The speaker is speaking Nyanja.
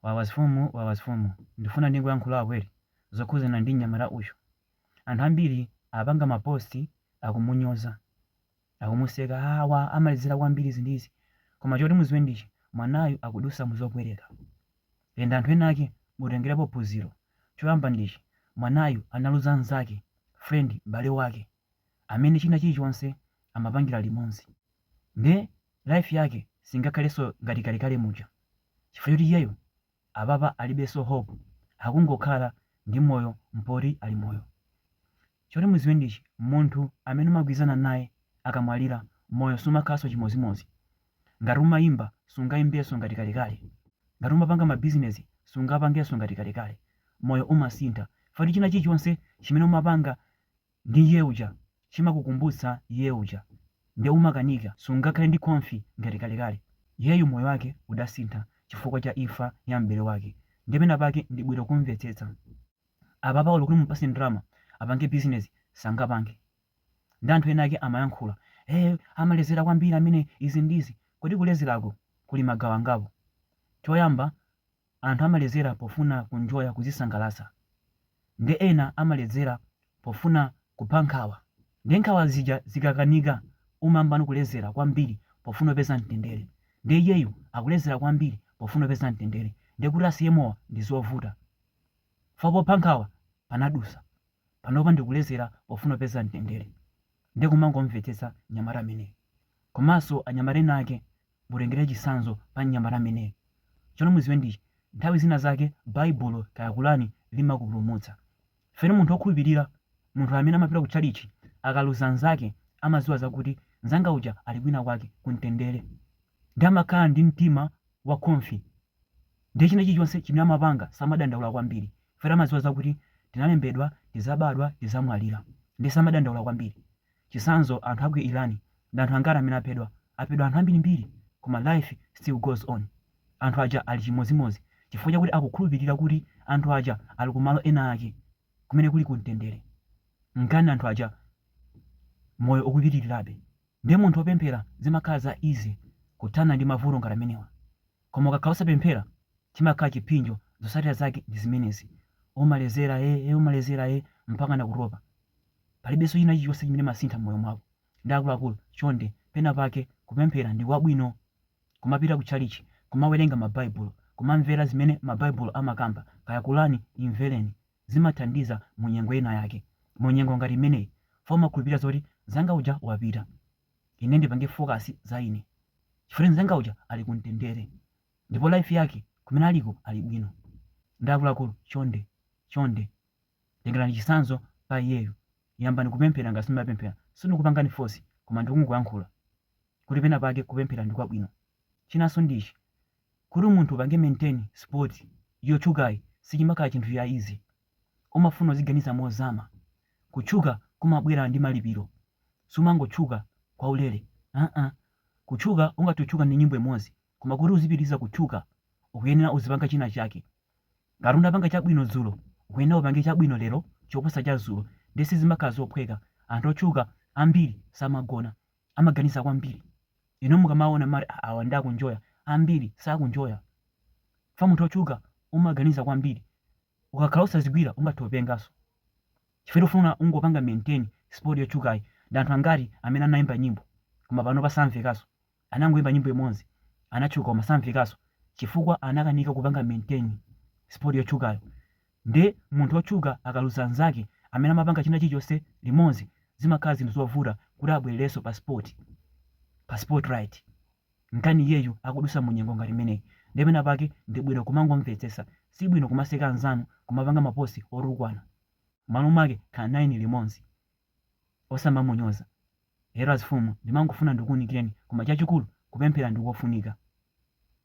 Wawazfumu wawazfumu ndifuna ndingoyankhulako zokhuzana ndi mnyamata uyu anthu ambiri apanga ma post akumunyoza akumuseka haa wa amalezela kwambiri izi ndi izi koma choti muziwe ndi ichi mwanayu akudusa muzopweteka and anthu ena ake mutengelepo phunzilo choyamba ndi ichi mwanayu analuza nzake friend m'bale wake amene china chilichonse amapangila limonzi nde life yake singakhaleso ngati kalekale muja chifukwa choti iyeyo apapa alibeso hope akungokhala ndi moyo mpoti ali moyo choti muziwe ndi ichi munthu amene umagwilizana naye akamwalira moyo sumakhalaso chimozimozi ngati umayimba sungaimbeso ngati kalekale ngati umapanga ma business sungapangeso ngati kalekale moyo umasintha chifukwa choti china chilichonse chimene umapanga ndi iye uja chimakukumbutsa iye uja nde umakanika sungakhale ndi confi ngati kalekale iyeyu moyo wake udasintha chifukwa cha imfa ya m'bale wake nde pena pake ndi bwino kumvetsetsa apapa olo kuti umupase ndalama apange business sangapange ndi anthu ena ake amayankhula eh amalezera kwambiri ameneyu izi ndi izi kodi kulezerako kuli magawo angapo choyamba Anthu amaledzera pofuna ku enjoya kuzisangalatsa nde ena amaledzera pofuna kupha nkhawa nde nkhawa zija zikakanika umayambano kuledzera kwambiri pofuna kupeza mtendere nde iyeyu akuledzera kwambiri pofuna kupeza mtendere nde kuti asiye mowa ndizovuta chifukwa popha nkhawa panadusa panopa ndikuledzera pofuna kupeza mtendere nde kumangomvetsetsa mnyamata ameneyu komanso anyamata ena ake mutengere chitsanzo pa mnyamata ameneyu. Choti mudziwe ndi ichi, nthawi zina zake Baibulo kaya Qur'an limakupulumutsa. Chifukwa munthu okhulupilira, munthu amene amapita ku tchalitchi, akaluza nzake amadziwa zakuti nzanga uja ali kwina kwake ku mtendere. Ndiye amakhala ndi mtima wa khonfi. Ndiye china chilichonse chimene amapanga samadandaula kwambiri. Chifukwa amadziwa zakuti zinalembedwa, tidzabadwa, tidzamwalira. Ndiye samadandaula kwambiri. Chitsanzo anthu aku Iran ndi anthu angati amene aphedwa? Aphedwa anthu ambiri mbiri koma life still goes on anthu aja ali chimodzimodzi chifukwa chakuti akukhulupilira kuti anthu aja ali ku malo ena ake kumene kuli ku mtendere nchifukwa anthu aja moyo ukupitilirabe nde munthu opemphera zimakhala za easy kuthana ndi mavuto ngati amenewa koma ukakhala osapemphera chimakhala chiphinjo zosatira zake ndi zimenezi umalezera ee umalezera ee mpakana kutopa. Palibenso china chilichonse chimene umasintha mmoyo mwako. Ndi akuluakulu, chonde, pena pake, kupemphera ndi kwabwino. Kumapita ku tchalitchi, kumawerenga ma Baibulo, kumamvera zimene ma Baibulo amakamba, kaya Qur'an, imvereni. Zimathandiza mu nyengo ina yake. Mu nyengo ngati imeneyi, chifukwa umakhulupirira zoti nzanga uja wapita. Ine ndipange focus za ine. Chifukwa choti nzanga uja ali ku mtendere. Ndipo life yake, kumene aliko, ali bwino. Ndi akuluakulu, chonde, chonde. Tengerani chitsanzo pa iyeyo. Yambani kupemphera ngati simumapemphera. Sindikupangani force koma ndikungoyankhula kuti pena pake kupemphera ndi kwabwino. Chinanso ndi ichi, kuti munthu upange maintain spot yotchukayi sichimakhala chinthu cha easy. Umafuna uziganiza mozama. Kutchuka kumabwera ndi malipiro. Sumangotchuka kwaulere aa. Kutchuka ungathe kutchuka ndi nyimbo imodzi koma kuti uzipitiriza kutchuka ukuyenera uzipanga china chake. Ngati unapanga chabwino dzulo, ukuyenera upange chabwino lero choposa cha dzulo. Ndiye sizimakhala zophweka. Anthu otchuka ambiri samagona, amaganiza kwambiri. Inu mukamaona mumati, "Ah, awa nde akunjoya. Ambiri sakunjoya. Chifukwa munthu wotchuka umaganiza kwambiri. Ukakhala wosazigwira ungathe kupenganso. Chifukwa choti ufuna uzingopanga maintain spot yotchukayi. Ndi anthu angati amene anaimba nyimbo koma panopa samvekanso? anangoimba nyimbo imodzi anatchuka koma samvekanso chifukwa anakanika kupanga maintain spot yotchukayo nde munthu wotchuka akaluza anzake amene amapanga china chilichonse limodzi zimakhala zinthu zovuta kuti abwererenso pa spot pa spotlight nkani iyeyu akudusa munyengo ngati imeneyi nde pena pake ndi bwino kumangomvetsetsa si bwino kumaseka anzanu kumapanga mapost otukwana malo mwake khalani naye limodzi osamamunyoza ayi azimfumu ndimangofuna ndikuunikireni koma chachikulu kupemphera ndikofunika.